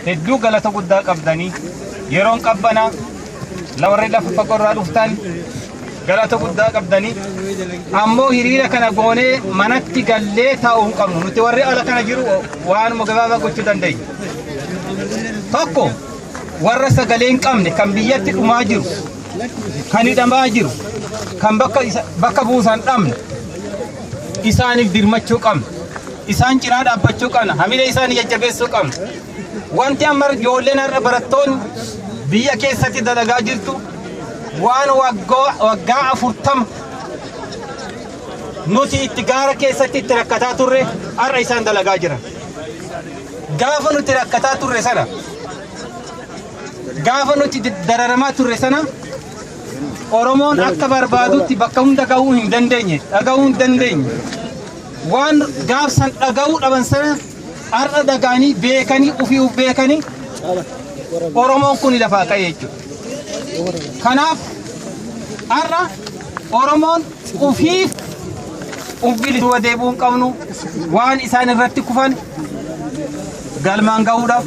hedduu galata guddaa qabdanii yeroon qabbana lawarri lafa fagorraa dhuftan galata guddaa qabdanii ammoo hiriira kana goonee manatti gallee taa'uu hin qabnu nuti warri ala kana jiru waanuma gabaabaa gochuu dandeenya tokko warra sagalee hin qabne kan biyyatti dhumaa jiru kan hidhamaa jiru kan bakka buusan dhabne isaaniif dirmachuu qabna. Isaan cinaa dhaabbachuu qabna. Hamilee isaanii jajjabeessuu qabna. Wanti amma ijoolleen har'a barattoonni biyya keessatti dalagaa jirtu waan waggaa afurtama nuti itti gaara keessatti itti rakkataa turre har'a isaan dalagaa jiran. Gaafa nuti rakkataa turre sana gaafa nuti dararamaa turre sana Oromoon akka barbaadutti bakka hunda gahuu hin dandeenye dhagahuu hin dandeenye waan gaafsan dhagahuu dhaban sana har'a dhagaanii beekanii ofii of beekanii Oromoon kun lafaa ka'e jechuudha. Kanaaf har'a Oromoon ofiif of bilisuu deebuu hin qabnu waan isaan irratti kufan galmaan gahuudhaaf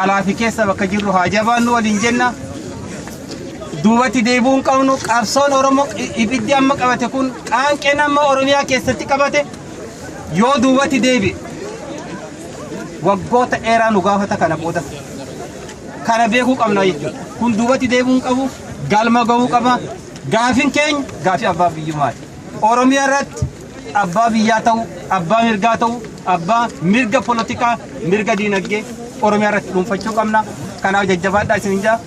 alaa fi keessa bakka jirru haa jabaannu waliin jenna. duubatti deebi'uu hin qabnu qabsoon oromoo ibiddi amma qabate kun qaanqeen amma oromiyaa keessatti qabate yoo duubatti deebi'e waggoota dheeraa nu gaafata kana booda kana beekuu qabna jechuudha kun duubatti deebi'uu hin qabu galma ga'uu qaba gaafin keenya gaafii abbaa biyyummaati oromiyaa irratti abbaa biyyaa ta'u abbaa mirgaa ta'u abbaa mirga polotikaa mirga diinagdee oromiyaa irratti dhuunfachuu qabna kanaaf jajjabaadhaa isin jaa